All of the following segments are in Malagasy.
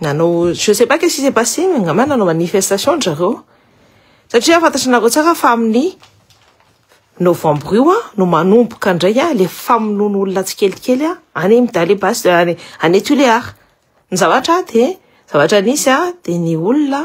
Nanao, je sais pas qu'est-ce qui s'est passé, mais angamba nanao manifestation dry zareo. Satria fantatranareo tsara fa amin'ny novembre io a, no manomboka indray a, le famonoana olona tsikelikely a, any amin'ny Dalle Bas, any, any Tulear. Ny zavatra dia, zavatra nisy a, dia ny olona,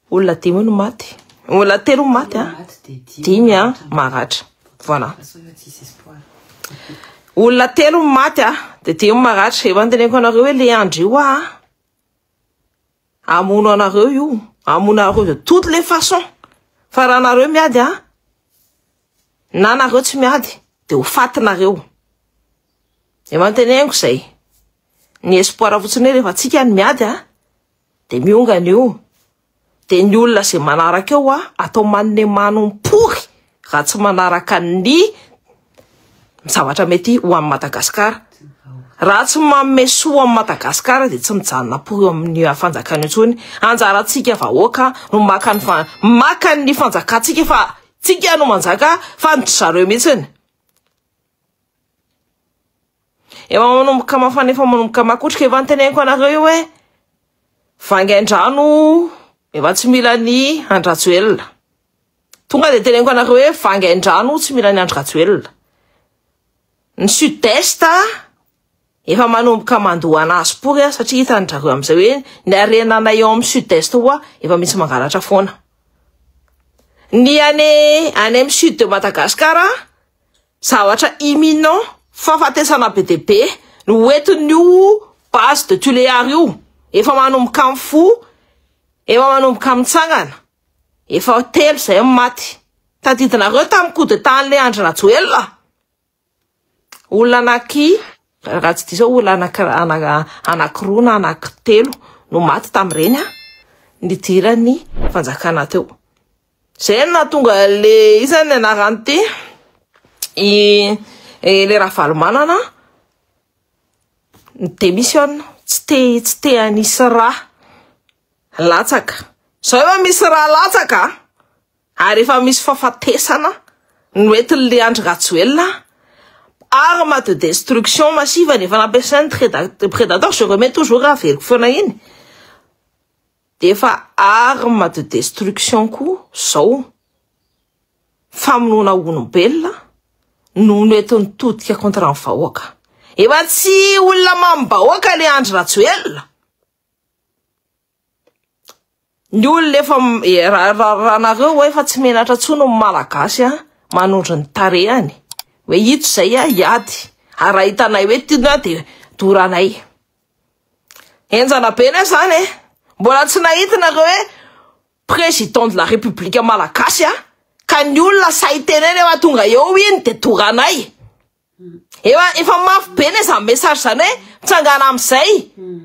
Olona dimy no maty. Olona telo no maty a. Dimy a maratra. Voilà. Olona telo no maty a, dia dimy maratra. Efa nteneniko anareo hoe le andry io a. Amono anareo io. Amono anareo de toute les façons. Fa raha nareo miady a, na nareo tsy miady dia ho fatinareo. Efa nteneniko izay. Ny espoir fotsiny hoe rehefa tsika ny miady a. Dia miongana eo. Dia ny olona izay manaraka eo a, atao manne manompory raha tsy manaraka ny zavatra mety ho an'i Madagasikara. Raha tsy manome soa an'i Madagasikara dia tsy mijanona pory eo amin'ny fanjakana eo intsony. Anjarantsika vahoaka no maka ny fa- maka ny fanjakantsika fa tsika no manjaka fa ny dry zareo mihitsy. Efa manomboka mafana efa manomboka makotrika efa nteneniko anareo io hoe vangaindrano efa tsy mila ny andrajoelina tonga dia teneniko anareo hoe vangaindrano tsy mila ny andrajoelina ny sud est Efa manomboka mandoa an azy pory aho satria hitan drareo amizay hoe ny harena nay ao am sud est hoa efa misy mangalatra foana. Ny any any am sud de Madagascar a zavatra imminent fahafatesana be dia be no ho entin io base de Tuléar io efa manomboka mifoha efa manomboka mitsangana efa telo zay ny maty tadidinareo tam coup d'etat anle Andry Rajoelina. Olona anaky, raha tsy diso aho, olona anaky anakiroa na anakitelo no maty tamin'ireny nidiran'ny fanjakana teo. Izay no nahatonga le iza ny anarany ity, i le Ravalomanana ni-demissionne, tsy te tsy te hanisy rà latsaka. Izao efa misy rà latsaka a! Ary efa misy fafatesana noentin'ilay Andry Rajoelina arme de destruction massive ny efa nampiasainy treda predator je remets toujours averiko foana iny de efa arme de destruction koa zao famonoana olombelona no noentin'ny todika contre ny vahoaka efa tsy olona mamim-bahoaka le Andry Rajoelina Ny olona efa raha nareo hoe efa tsy menatra intsony ny malagasy a manondro ny tarehany hoe ito izay a hiady ary raha hitanay hoe tiany a dia doranay henjana be ne zany e mbola tsy nahita nareo hoe président de la république malagasy a ka ny olona sahy tenena efa tonga eo iny dia doranay Ewa efa mafy be le zany message zany hoe mitsangana amizay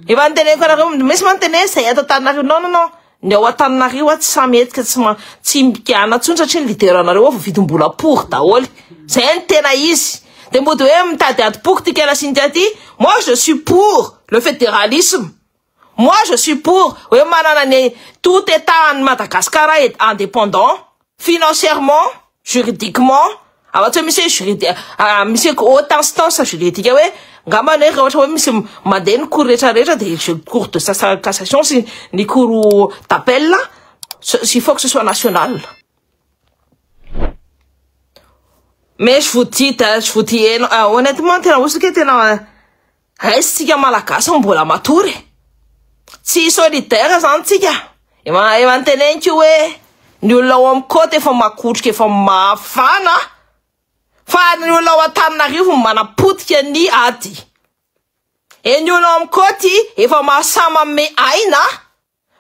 efa niteneniko anareo indroa mihitsy moa ny tena hoe zay ato Antananarivo non non non ny ao Antananarivo ato tsy samy hetsika tsy ma tsy mpiana tsony satria ny leader anareo ao voavidim-bola pory daholo zay ny tena izy de mody hoe mitady adim-poko ty kela Cynthia ty moi je suis pour le federalisme Moi je suis pour hoe manana ny tout etat an'ny Madagascar est indépendant financièrement, juridiquement afa tsy hoe misy hoe juridi misy hoe haute instance juridique hoe ngambany hoe raha ohatra hoe misy mandeha ny cours rehetra rehetra dia je cours de cassation sy ny cours d'appel il faut que ce soit national mais je vous dis je vous dis honnêtement tena hosoka e tena Aiz tsika malagasy no mbola matory e! Tsy solidaire zany tsika! Efa efa niteneniko io hoe ny olona ao amin'ny côte efa makotroka efa mafana fa ny olona ao Antananarivo no manapotika ny ady. Et ny olona ao amin'ny côte efa mahasahy manome aina.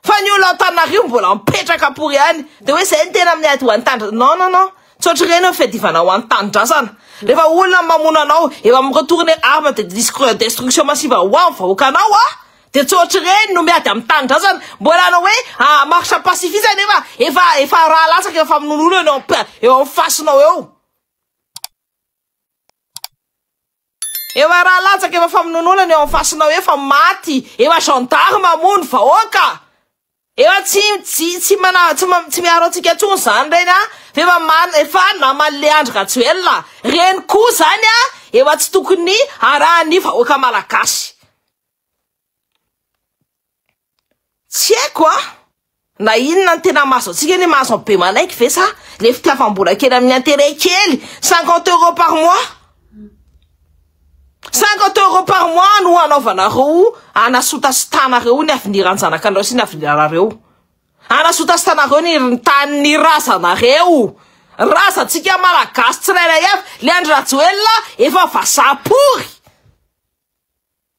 Fa ny olo Antananarivo mbola mipetraka pory ihany de hoe zay ny tena miady ho an'tandra non non non tsotra ireny eo fiadivana ho an'ny tanindrazana rehefa olona mamono anao efa mi retourne arme de distr destruction massive ho an'ny vahoakanao a de tsotra ireny no miady amin'ny tanindrazana mbola hanao hoe a marche pacifice nefa efa efa raha latsaka eo famonoana olona eo am eo amin'ny fasinao eo Eo a raha latsaka efa famonononana eo am fasinao efa maty eo a gendarme hamono vahoaka eo a tsy tsy tsy mana tsy ma tsy miaro antsika ntsony zany reny a f'efa man efa namaly le andry rajoelina reny koa zany a eo a tsy tokony arahan'ny vahoaka malagasy Tsy haiko an, na inona no tena mahazo antsika anie mahazo an'i Bemanaiky ve sa le fitiavam-bola kely amin'ny intérêt kely cinquante euros par mois cinquante euros par mois no hanaovanareo hanasotasotanareo ny avenir an-janakanareo sy ny avenir anareo hanasotasotanareo ny tanin'ny razanareo razantsika malagasy tsirairay avy le Andry Rajoelina efa vazaha pory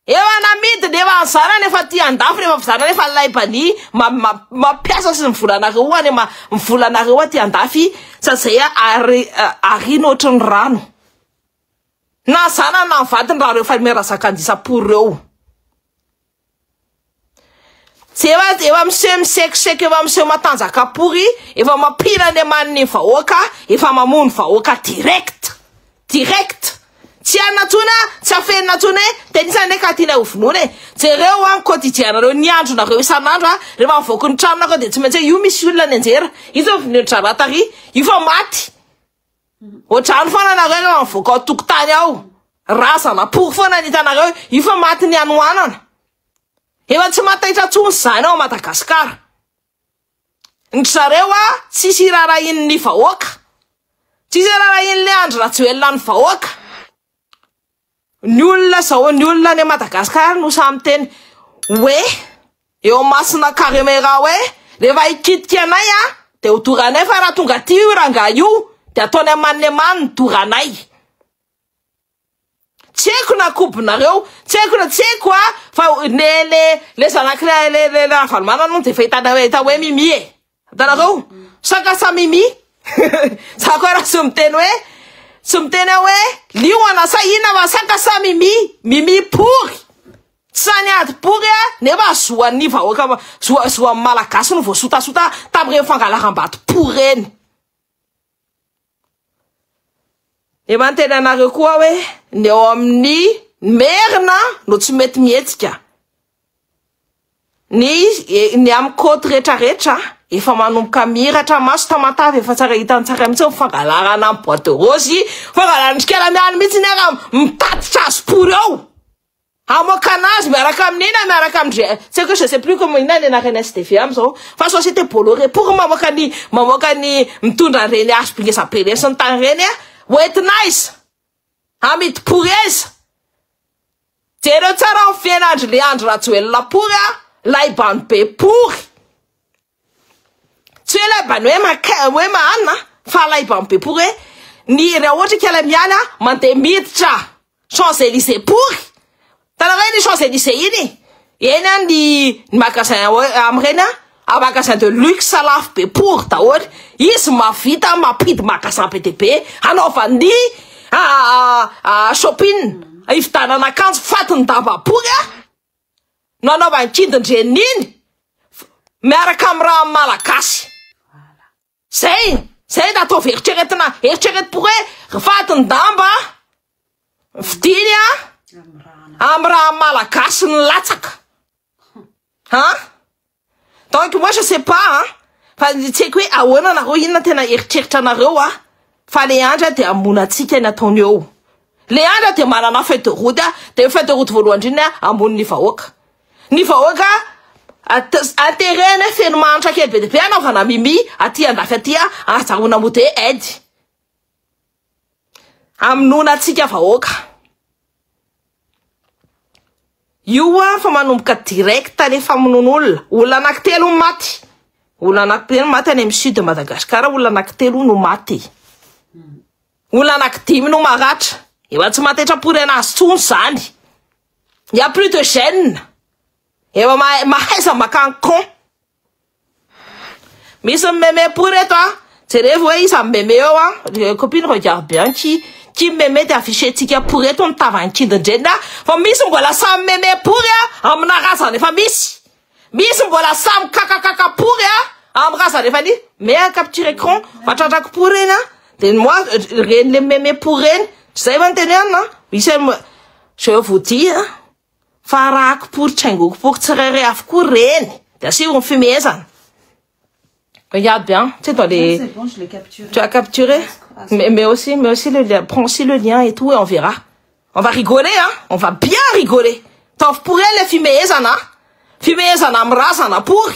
Efa namidy ny efa nizarany efa ty andafy ny efa fizarana efa laibany ma ma mampiasa sy ny volanareo any ma ny volanareo aty andafy sa zay a ary arina ohatry ny rano na ny zanany na ny vadiny raha reo famille Razakandisapory reo Efa efa miseho misekoseky efa miseho matanjaka pory efa mampila ny aman'ny vahoaka efa mamono vahoaka direct direct tsy hanina tsony a tsy afenina tsony e tenisa ne ka tiana hovonoina e jereo an kodidianareo ny andronareo isan'andro a rehefa mivoaka ny tranonareo dia tsy maintsy io misy olona ny anjera io zao vonoin-dra rahatary io fa maty Otrany fona nareo no avoaka ao tokotany ao razana pory fona ny hitanareo io fa maty ny hanoanana efa tsy mataitra tsony zany ao Madagascar ny zareo a tsisy irarahin ny vahoaka tsisy irarahin le Andry Rajoelina ny vahoaka Ny olona zao ny olona any Madagascar no samy miteny hoe eo masina caremeira hoe rehefa hikitika anay a de ho doranay fa raha tonga aty io rangahy io de ataony aman'lemany ny doranay tsy haiko na kobonareo tsy haiko na tsy haiko a fa le le le zanak'ilay le le ravalomanana hono de efa hitanareo efa hoe mimi e Hitanareo? Saka sa mimi? Za koa raha tsy miteny hoe tsy miteny aho hoe liona sa inona fa saka sa mimi? Mimi pory. Sany ady pory a, nefa zoan'ny vahoaka zoa zoan'ny malagasy no voasotasota tamin'ireny fangalaram-bato pory ireny. Dia manontena anareo koa aho hoe ny ao amin'ny Merina no tsy mety mihetsika. Ny e, ny amin'ny côte rehetrarehetra efa manomboka miratra maso tamatave efa tsara hitan'ny tsara mihitsy ny fangalarana amin'ny boîte rose, fangalaran'ny trikala miany mihitsy ny ara mitatitra azy pory ao. Hamoaka anazy miaraka amin'i na miaraka amin'i G, tsy haiko hoe je sais plus comment inona ny anaran'ny SDV amin'izao fa société Bolloré pour mamoaka ny mamoaka ny mitondra an'ireny hazo be ngeza be ireny sy ny tany ireny a! ho entina aiza? hamidy pory aiza? Jereo tsara ny fiainan'dry le Andry Rajoelina pory a! laiban-dry be pory! Tsy hoe laban hoe maka hoe mahanina fa laiban be pory hoe ny raha ohatra ka ilay miala mandeha miditra Champs Elysées pory tanareo iny Champs Elysées iny eny an ny ny magasin hoe amin'ireny an magasin de luxe lafo be pory daholo izy mahavita mampidy magasin be dia be hanaovan'ny shopping hividianana akanjo fatin-damba pory an. no anaovan-kidin-dreniny miaraka amin'ny raha malagasy. Zay, zay no ataovy eritreretina, eritreretim-po hoe vadin-damba fidiny amin'ny raha malagasy nilatsaka. An! Donc moi je sais pas an, fa tsy haiko hoe ahoana nareo inona tena eritreritra anareo an, fa le andra dia hamono antsika ny ataony eo, le andra dia manana feuille de route an, dia ny feuille de route voalohany indrindra an, hamono ny vahoaka, ny vahoaka aterena feno mahantra kely be dia be hanaovana mimi aty andafy aty an, ahazahoana mode aide. Hamonoana antsika vahoaka. Io an fa manomboka direct le famonoana olona. Olona anankitelo no maty. Olona anankitelo no maty any amin'ny sud de Madagascar, olona anankitelo no maty. Olona anankidimy no maratra. Efa tsy matetrapory anazy tsony zany. Il y a plus de gènes. Efa mahaiza makany con. Misy mimeme po reto a! Jerevo hoe iza mimeme eo a! Les copines regarde bien qui qui mimeme dia afficher-tsika po reto ny tavan'ny kindin-dreniny a! Fa misy mbola samy mimeme pory a! Amina razana efa misy! Misy mbola samy kakakaka pory a! Amin'ny razana efa nisy! Mets un capture écran fa tratrako po reny a! Dia ny moi reny le mimeme pory reny! Tsy izay va ny tenenina? Misy je vous dis a! Fa arahako pory tsy haingoko pory tsirairay avokoa reny de asio ny fimehezana regarde bien tu sais dans les tu as capturé mais, mais aussi mais aussi le lien prends aussi le lien et tout et on verra on va rigoler hein on va bien rigoler taovy pory ilay fimehezana fimehezana amin'ny razana pory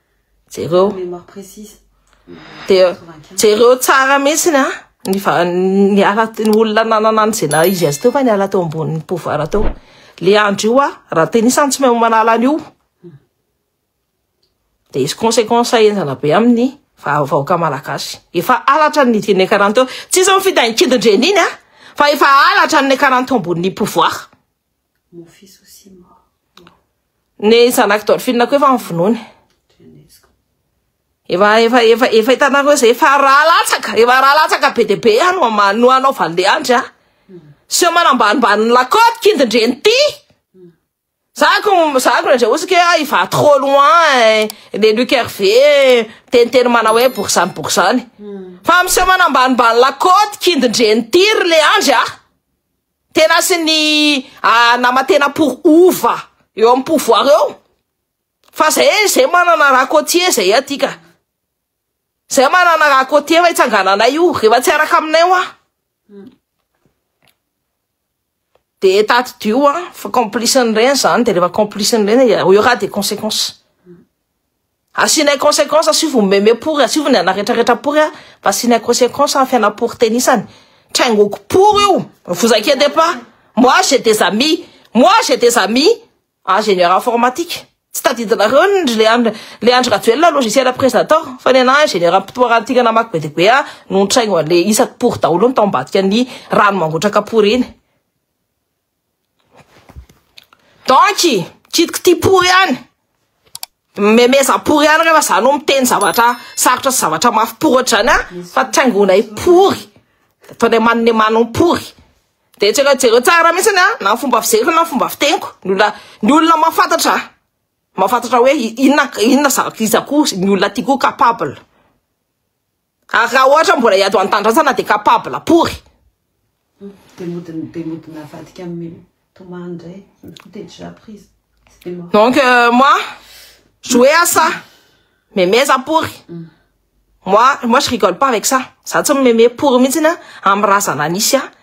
Jereo. Dia jereo tsara mihitsy a ny niala ny olona nanana an'izay na izy azy teo fa niala teo ambonin'ny pouvoir teo. Le andro io a raha tenisany tsy mahay manala an'io de hisy conséquence henjana be amin'ny vahoaka malagasy. Efa halatra ny nidin'ny ekaran teo. Tsy izy mifidy an-kidin-dreniny a fa efa halatra ny ekaran teo ambonin'ny pouvoir. Mon fils aussi mort. Ny zanak'i Dolphine koa efa nivonony. Efa efa efa efa hitanareo izay efa raha latsaka, efa raha latsaka be dia be any ah, no hanaovan'i Leandry ah. Seho manambanimbanin'ny lakôty kindin-dreny ty. Zako zako le ndray osika ah, il va trop loin eh, le Luc Hervé eh, miteniteny manao hoe borizany borizany. Fa miseho manambanimbany lakôty kindin-dreny ty ry Leandry ah. Tena sy ny nama tena pour ova eo amin'ny pouvoir eo fa zay e zay manana raha côtier zay aty ka zay manana raha côtier fa itsangananay io rehefa tsy araka aminay hoa de taty dio a fa complice ny reny zany de rehefa complice ny reny eo raha de consequence Asianay consequence asio vao meme pory asio vao ny ana retraretra pory a fa asianay consequence a fiana pory tenisany traingoko pory io vous inquiétez pas moi j'ai des amis moi j'ai des amis ingénieur informatique tsy tadidinareo ny ndry le andry le andry rajoelina logiciel presenter fa ny ana ingénieur ampitoarantika namaky be dia be a no nitraingo anle isaky pory daholo ny tao ambadika ny rano mangotraka pory iny Donc, kitiko tia pory ihany, memeza pory ihany rehefa za no miteny zavatra sarotra sy zavatra mafy pory ohatr'izany an! fa tsy haingonay pory, ataonay manome manon pory, dia jereo jereo tsara mihintsy an! na ny fomba fizeriko na ny fomba fiteniko, ny olona ny olona mahafantatra ahy, mahafantatra hoe inona inona za iza koa ny olona ty koa capable. Ary raha ohatra mbola hiady ho an'ny Tanindrazana dia capable pory. Dia mody dia mody navadika amin'i Tomany indray, il coup était déjà prise. C'était mort. Donc euh, moi, jouer à ça. Memeza pory. Moi, moi je rigole pas avec ça. Za tsy mimeme pory mihitsy na amin'ny razana nisy ahy.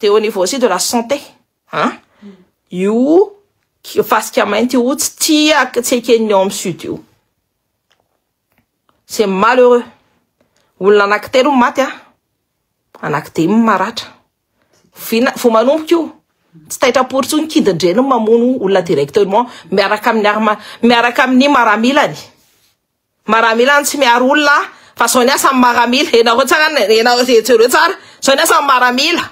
Dia au niveau aussi de la santé an! Io fasika mainty io tsy tia tsy eken'ny ao amin'ny sud io. C'est malheureux. Olona anankitelo no maty an! Anankidimy no maratra. Vina, vao manomboka io, tsy taitra-pory intsony ny kidin-dreniny mamono olona directement miaraka amin'ny arma, miaraka amin'ny maramilany. Maramila no tsy miaro olona a! Fa zao ny asan'ny maramila, henareo tsara ny, henareo, jereo tsara, zao ny asan'ny maramila,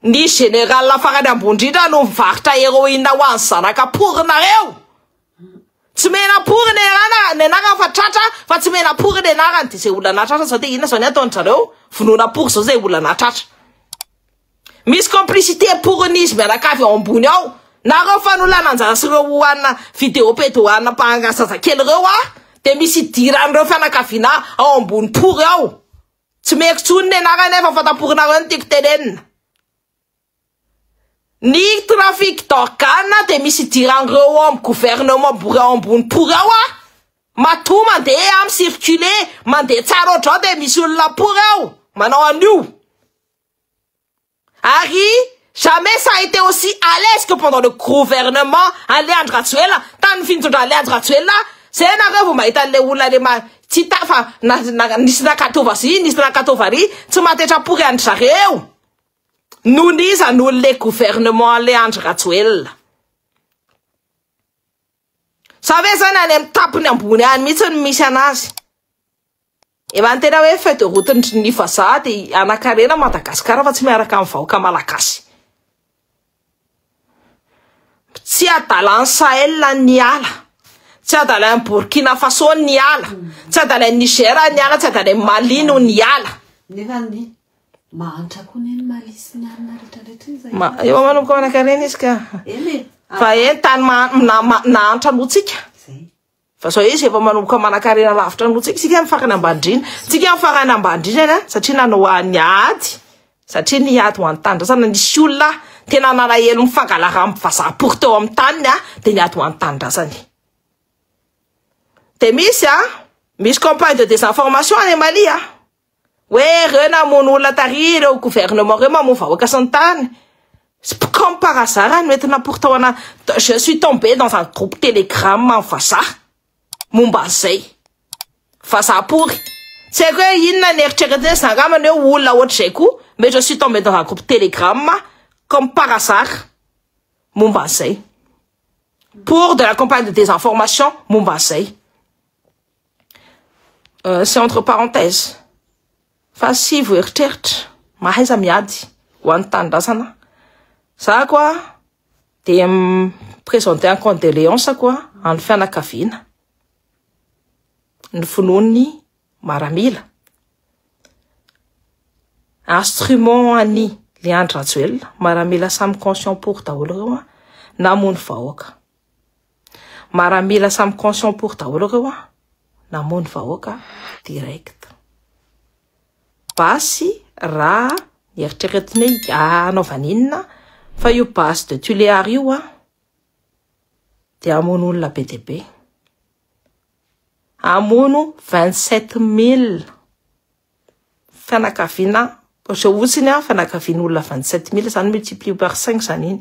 ny général farany ambony indrindra no mivarotra heroine ho an'ny zanaka pory nareo! Tsy mena pory ny anarana, ny anarana fa tratra fa tsy mena pory ny anarana, de zay olona nahatratra zao de inona zao ny ataon-dry zareo? Vonoina pory zao zay olona nahatratra. Misy complicité pournis mianakavy ao ambony ao nareo fanolana anjara sy reo oana vidéo pede oana mpahangaha zazakely reo ah de misy idiran reo fianakavina ao ambony pory ao tsy meko tsony ny anarany nefa fantaporinareo ny tiko tenenina ny trafic d'organe de misy idiran reo ao am gouvernement bory ao ambony pory ao ah matoa mandeha am circuler mandeha tsara ohatrao de misy olona pory ao manao an'io Ary jamais ça a été aussi à l'aise que pendant le gouvernement an'le Andry Rajoelina, tamin'ny fintondran'le Andry Rajoelina zay nareo vao mahita an'le olona le ma tsy ta fa na na nisy nakato vazia nisy nakato vary tsy matetra pory an-dry zareo noho ny iza noho ny le gouvernement an'le Andry Rajoelina Sa ve zany any amin'ny tapiny ambony any mihitsy no misy anazy? Raha ny tena hoe feuille de route ndry ny vazaha dia hanakarena Madagascar fa tsy miaraka amin'ny vahoaka Malagasy. Tsy adalan'ny Sahel ny hiala, tsy adalan'ny Burkina Faso ny hiala, tsy adalan'ny Niger ny hiala, tsy adalan'ny Mali no ny hiala. Nefa ny mahantra koa ny Mali sy ny alina rehetra rehetra iny zay. Ma, eo manomboka manakarena izy ka. Eny. Fa eny tany ma, na, ma, nahantra noho tsika. Zay. Fa zao izy efa manomboka manankarena lavitra noho tsika, tsika ny farany ambandrina, tsika ny farany ambandrinana satria nanao ny ady, satria ny ady ho an'ny tanindrazana nisy olona tena nalahelo ny fangalaran'ny vazaha pory teo amin'ny taniny a, dia ny ady ho an'ny tanindrazana e. Dia misy a, misy campagne de désinformation any Mali a. hoe ireo namono olona tary ireo gouvernement ireo mamono vahoaka sy ny tany sy comme par hasard no entina pour tao ana je suis tombé dans un groupe telegram amin'ny vazaha momba an'izay vazaha pory tsy haiko hoe inona ny eritreretiny zany angambany hoe olona ohatr'izay koa mais je suis tombé dans un groupe telegram comme par hasard momba an'izay pour de la campagne de désinformation momba an'izay Euh, c'est entre parenthèse fa sy voeritreritra mahaiza miady ho an'ny tanindrazana za koa de présenter en condoléance koa an'ny fianakaviana ny finoan'ny maramila instrument an'i Leandro Rajoelina maramila samy conscient pour daholo ireo namono vahoaka Maramila samy conscient pour daholo reo a. Namono vahoaka direct. Basy raha eritreretina hoe hanaovana inona fa io basy de Tuléar io a dia hamono olona be dia be. Hamono 27000 fianakaviana izao fotsiny a fianakavian'olona 27000 izany multiplié par 5 izany iny.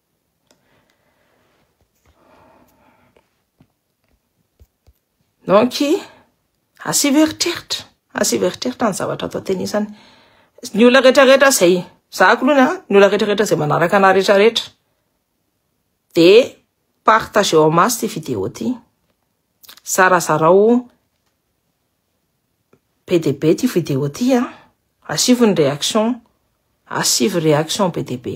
Donc, asivo eritreritra, asivo eritreritra ny zavatra atao teny isany. Ny olona rehetra rehetra zay, za kolona, ny olona rehetra rehetra zay manaraka na rehetra rehetra, de partage en masse ty vidéo ty. Zarazarao be de be ty vidéo ty an. Asivo ny réaction, asivo réaction be de be.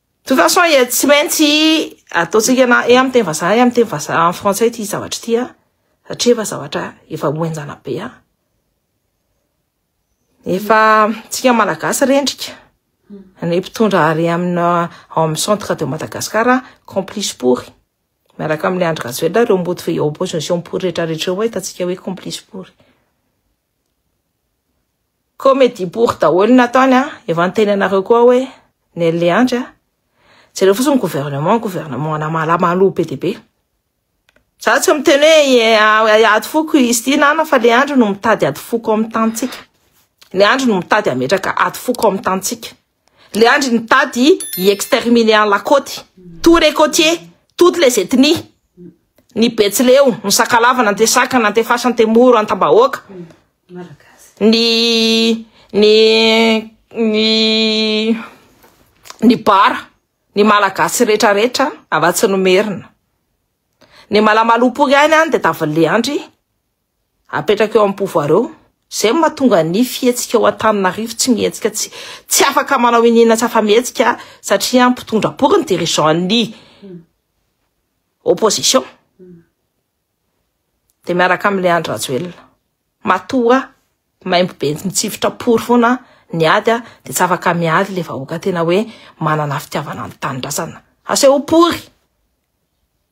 toute façon ya tsy maintsy ataontsika na e amin'ny teny vazaha e amin'ny teny vazaha en français ity zavatra ity a satria efa zavatra efa hoenjana be a efa tsika malagasy rendrika ny mpitondra ary amina ao amin'ny centre de Madagascar complice pory miaraka amin'ny Andry Rajoelina ireo mody opposition pory rehetra rehetra ireo mahitatsika hoe complice pory Comedie pour daholo ny nataony a, efa niteny anareo koa hoe Nelly Andry a, jereo fotsiny ny gouvernement, gouvernement ana mala malou be dia be. Za tsy miteny hoe hiady foko izy ity na na fa le Andry no mitady ady foko ao amin'ny tanintsika. Le Andry no mitady hametraka ady foko ao amin'ny tanintsika. Le andry nitady hi exterminer an la côte, tous les côtiers, toutes les ethnies, ny betsileo, ny sakalava, ny antesaka, ny antefasy, antemoro, antambahoaka, ny ny ny ny bara, ny malagasy rehetra rehetra afa tsy ny merina. Ny malamalompoka ihany an de davan'le andry. Apetraka eo amin'ny pouvoir eo. Izay no mahatonga ny fihetsika ao Antananarivo tsy mihetsika, tsy tsy afaka manao iniana tsy afa-mihetsika satria mpitondra akory ny dirigeant ny opposition. Dia miaraka amin'ilay Andry Rajoelina. Matoa maimbo be mitsifotra pory foana ny ady dia tsy afaka miady ilay vahoaka tena hoe manana fitiavana ny tanindrazana. Asehoy pory!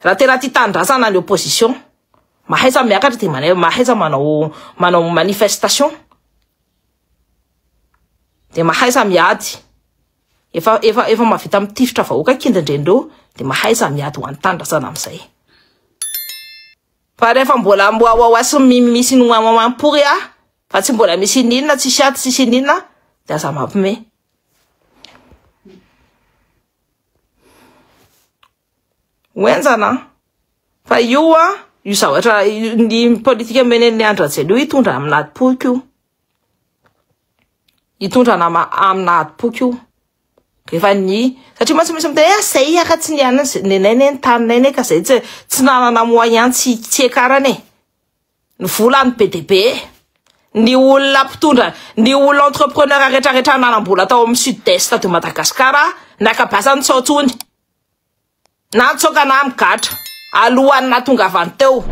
Raha tena tia tanindrazana ny opposition, mahaiza miakatra dia manaiza, mahaiza manao manao manifestation, dia mahaiza miady. Efa efa efa mavita mitifitra vahoaka kindrendrendreo dia mahaiza miady ho an'ny tanindrazana amin'izay. Fa rehefa mbola mwawawa sy misy ny wawawa pory a, fa tsy mbola misy ininona, tsisy ady, tsisy ininona dia aza mampime. ho enjana an fa io a io zavatra ny politika menen'ny andrajelo io hitondra amina adim-poko io hitondra nama amina adim-poko io efa ny satria mantsy misy miteny eh zay hiaka tsy nianany nenay ne ny taninay ne ka zay tsy tsy nanana moyen tsy tsy hiakarana e ny volany be dia be ny olona mpitondra ny olona entrepreneur retraretra nanambola tao amin'ny sud est de Madagascar naka basany tsy ao tsony na nitsoaka na migatra alohan'ny natongavany teo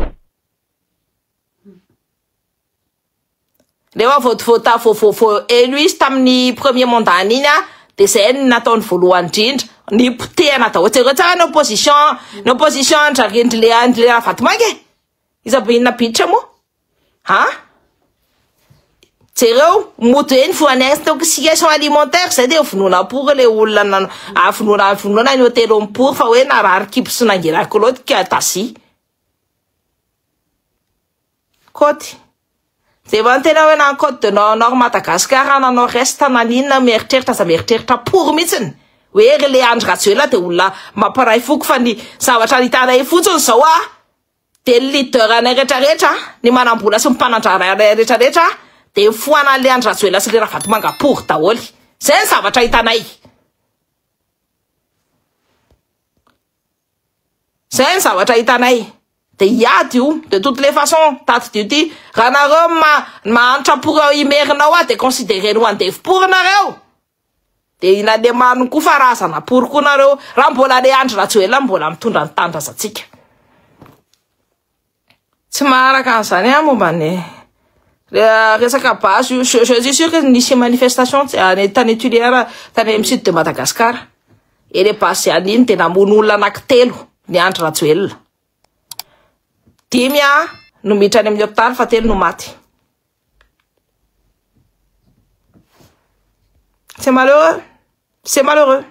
rehefa voatovota voavovo elo izy tamin'ny premier mandat iny a dia izay ny nataony voalohany indrindra ny potehana daholo jereo tsara ny opposition ny opposition an-dry Andry Lera Vatomaika e Iza be inona bitra moa a? Jereo mody hoe nivoha any intoxication alimentaire izay dia vonoina pour ilay olona na- avonoina avonoina ny hotely eo amin'ny pour fa hoe narary kibo sy nangina kolaoty ka taxi. Kaoty. Dia mba tena hoe na ny code de no- nord Madagascar na nord est na ny inona mieritreritra aza mieritreritra pory mihitsiny hoe ry le Andry Rajoelina dia olona mampiray foko fa ny zavatra hitanay fotsiny izao a dia ny leader anay rehetrarehetra a, ny manam-bola sy ny mpanandrara anay rehetrarehetra a dia mifohana an'le Andry Rajoelina sy le Ravatomanga pory daholo. Izay ny zavatra hitanay. Zay ny zavatra hitanay de hiady io de toute les façons tadidio ty raha nareo ma mahantra pour ao imerina ao de considereny ho andevo pour nareo de i lalemano koa fa razana pour koa nareo raha mbola le andry rajoelina mbola mitondra ny tanindrazantsika Tsy maharaka an'izany aho momba ny resaka base io. Je, je suis sûr que nisy manifestation any tany Tulière, tany amin'ny sud de Madagascar. Et les bases ihany iny dia namono olona anankitelo ny Andry Rajoelina. Dimy a no miditra any amin'ny hôpital fa telo no maty. C'est malheureux. C'est malheureux.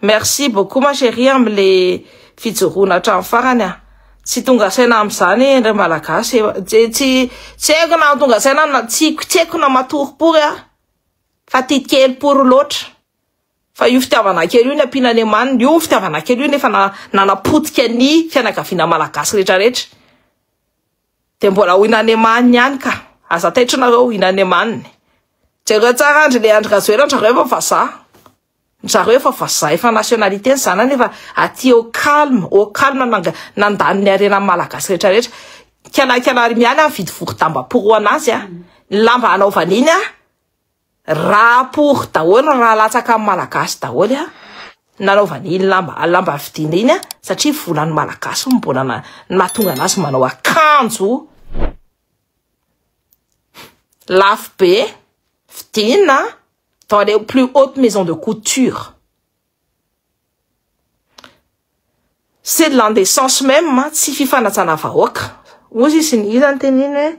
Merci beaucoup ma chérie amin'le fijoroana hatramin'ny farany ah. Tsy tonga saina amin'izany ndray malagasy. Tsy tsy tsy haiko na tonga saina na tsy tsy haiko na matoropory ah. Fa tia kely pory loatra. Fa io fitiavana kely io ny ampiana any amaniny. Io fitiavana kely io nefa na nanapotika ny fianakaviana malagasy rehetra rehetra. Dia mbola ho Inanemaniny ihany ka. Aza taitra nareo Inanemaniny. Jereo tsara Andry le Andry Rajoelina ndry zareo efa vazaha. Ndry zareo efa vazaha efa nationalité ny zanany efa aty au calme, au calme nanga nandany ny harenan'ny Malagasy rehetra rehetra. Kialakialary mialy a mividy vorodamba porohana azy a. Ny lamba hanaovany iny a. Raha pour daholo raha latsaka am malagasy daholo a nanaovany iny lamba lamba vidina iny a satria volan'ny malagasy no mbola na nahatonga anazy manao akanjo lafo be vidina dans les plus hautes maisons de couture c'est de l'indécence même tsy fifanajana vahoaka ozy izy ny iza ny teniny hoe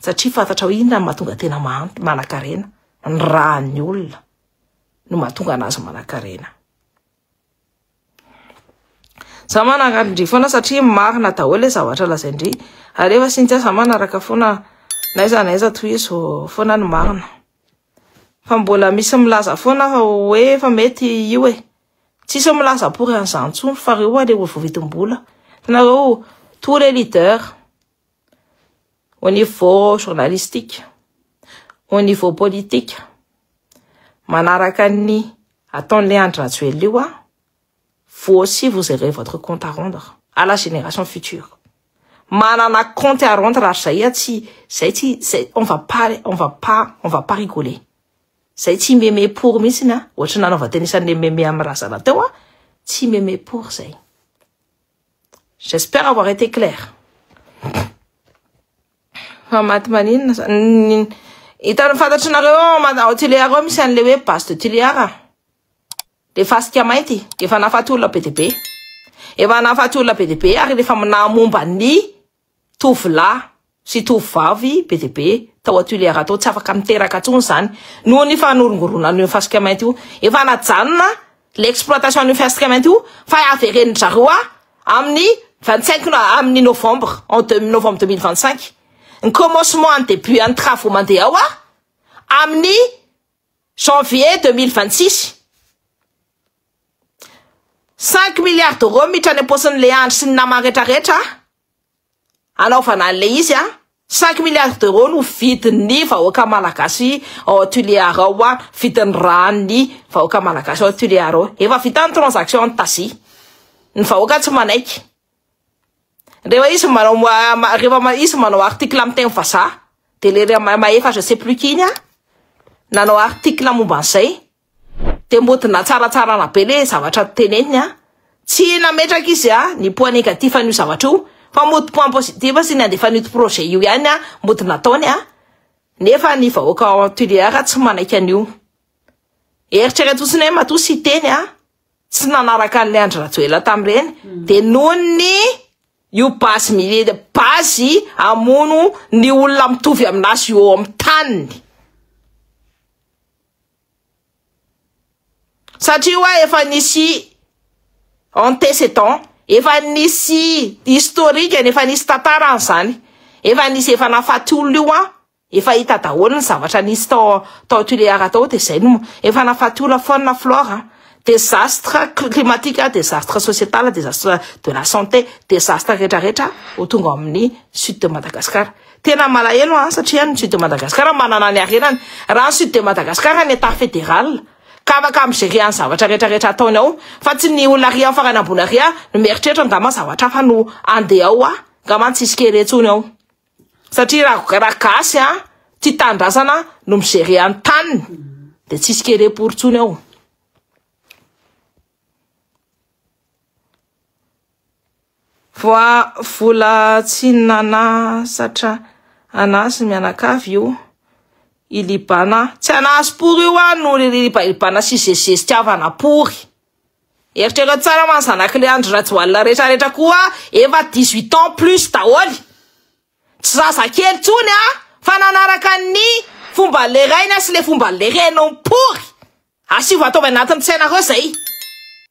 Satria fantatrao inona no mahatonga tena mahantra, manankarena? Ny ràn'ny olona no mahatonga anazy manankarena. Za manankarindry foana satria marina daholo le zavatra lazaindry. Alefa Cynthia za manaraka foana naiza naiza tohizo foana ny marina. Fa mbola misy milaza foana hoe efa mety io e. Tsisy milaza pour an'izany intsony fa reo aloha le olo vao vidim-bola. Hitanareo, tous les leaders au niveau journalistique, au niveau politique, manaraka ny ataon'ilay Andry Rajoelina io aho, vous aussi vous aurez votre compte à rendre à la génération future. Manana compte à rendre ary zay a tsy zay tsy zay on va pas on va pas on va pas rigoler. Zay tsy meme pour mihitsy na ohatry nanaova teny isan'ny meme amin'ny razana teo a tsy meme pour zay. J'espère avoir été claire. Fa maty maninona sa hitan'ny fantatry nareo ao Tuléar ao misy an'le hoe base de Tuléar a. Le fasika mainty efa nahafaty olona be dia be. Efa nahafaty olona be dia be ary efa nahamomba ny tovolahy sy tovovavy be dia be tao Tuléar tao, tsy afaka miteraka intsony izany noho ny fanorongoronan'io fasika mainty io. Efa najanona ilay exploitation an'io fasika mainty io fa haverenin-dry zareo ahy amin'ny 25 no- amin'ny novembre, en deux- novembre 2025. Ny commencement an'ny début an'ny travaux mandeha ao ary amin'ny janvier 2026. Cinq milliards d'euros miditra any am-paosin'ilay Andry sy ny namany rehetrarehetra hanaovana an'ilay izy an! Cinq milliards d'euros no vidin'ny vahoaka malagasy ao Tulear ao an! Vidin'ny ràn'ny vahoaka malagasy ao Tulear ao. Efa vita ny transaction an'i Tasia. Ny vahoaka tsy manaiky. Rehefa izy manao rehefa izy manao article amin'ny teny vazaha dia le mahefa je sais plus qui iny an! Nanao article momba an'izay. Dia mbo dna tsaratsarana be le zavatra teneniny a! Tsy nametraka izy a ny point negatif an'io zavatra io fa mody point positif sy ny andefan'ito projet io ihany a mody nataony a! Nefa ny vahoaka ao Tuléar tsy manaiky an'io. Eritrereto fotsiny hoe matoa Siteny a tsy nanaraka an'ilay Andry Rajoelina tamin'ireny dia noho ny io base mili base hamono ny olona mitovy amin'azy eo amin'ny taniny. Satria hoa efa nisy antécédent, efa nisy historique any, efa nisy tantara any zany, efa nisy efa nahafaty olona io hoa, efa hita daholo ny zavatra nisy tao tao Tulear tao de zay no, efa nahafaty olona faune flore a, desastre climatique, desastre societal, desastre de la santé, desastre rehetra rehetra ho tonga ao amin'ny sud de Madagascar. Tena malahelo an, satria ny Sud de Madagascar manana ny harenany. Raha ny Sud de Madagascar ny Etat Fédéral ka afaka mi-gérer an'ny zavatra rehetra rehetra ataony ao, fa tsy ny olona ary amin'ny farany ambony ary an, no mieritreritra angamba zavatra hafa no andeha ao an, angamba ny tsisy kere intsony ao. Satria raha raha gasy an, tia tanindrazana no mi-gérer an'ny taniny dia tsisy kere pory intsony ao. Voa vola tsy nanasatra anah sy mianakavy io i Libana. Tsy anah sy pory io an no ribana sy zezizezi tiavana pory. Eritrereo tsara man zanak'le Andry Rajoalina rehetra rehetra koa efa dix huit ans plus daholo. Tsy zazakely tsony an fa nanaraka ny fomba le rainy sy le fomba le reniny pory. Asio vatao avy anatin'ny tsainareo zay.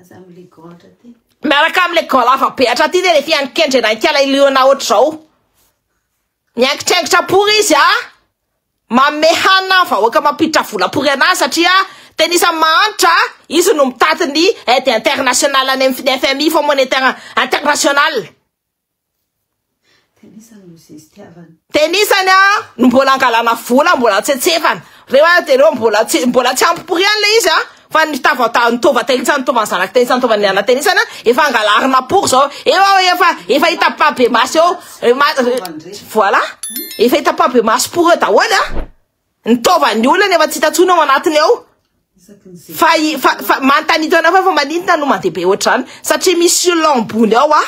Aza amle goatra ty. Miaraka amle goala vapehatra ty nefa iany kendrena ikala iliona hotr zao. Miangitraingitra pory izy a. Manome hanina ny vahoaka mampiditra vola pory anazy satria tena isany mahantra a. Izy no mitaty ny aide internationale any aminy fnfmi, fonds monétaire international. Tenisany a no mbola angalana vola mbola tsetsefana reo a de reo mbola tsy mbola tsy ampy prix anle izy a fa ny tavata ny tova tenisany tovan'ny zanak'i tenisany tovan'ny ana tenisany a efa angalarina pour zao eo aho efa efa hita pas be maso eo ma- voilà efa hita pas be maso pour eo daholo a Ny taovan'ny olona efa tsy hita intsony ao anatiny ao fa fa fa mantanito anao fa fa maninona no mandeha be ohatr'izany satria misy olona ambony ao ah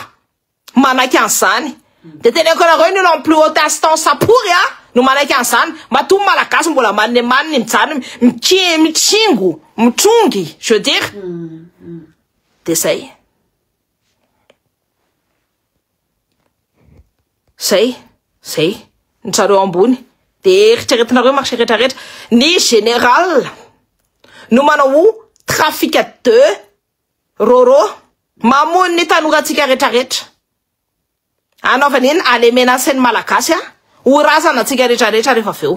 manaiky an'izany de teneko anareo ny olona plus haute instance apory ah no manaiky an'izany matoa ny malagasy mbola manne manne mijanona miki mitsingo mitrongy je veux dire mm, mm. de zay Zay, zay, ny tsareo ambony, de eritreretinareo marche retraretra, ny général no manao ho trafic de roro, mamono ny tanorantsika retraretra, anaovan'iny alemenasy ny malagasy ho razana antsika retraretra rehefa avy eo.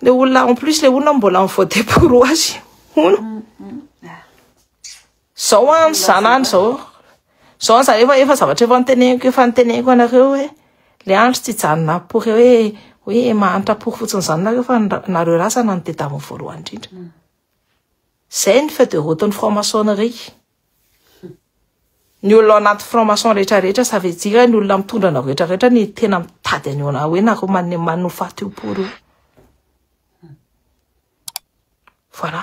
Le olona en plus le olona mbola mi voter pour hoazy. Hono. Zao an zanany zao. Zao an zany efa efa zavatra efa niteneniko efa niteneniko anareo hoe le andro tsy janona pour hoe hoe mahantra pour fotsiny zany nareo fa nareo razana ny dedaviny voalohany indrindra. Zay ny feu de route ny franc-maçonnerie. Ny olona ao anaty franc maçon rehetra rehetra ça veut dire ny olona mitondra anao rehetra rehetra ny tena mitady an'io anao hoe nareo man manofaty io pory io voilà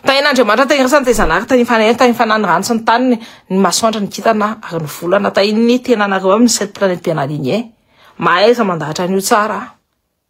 tahin'Andriamanitra tany resany tany zanahary tany fanahiny tany fanany rano sy ny taniny ny masoandro ny kitana ary ny volana tahin'ny tenanareo aminy cette planète bien alignée mahaiza mandahatra an'io tsara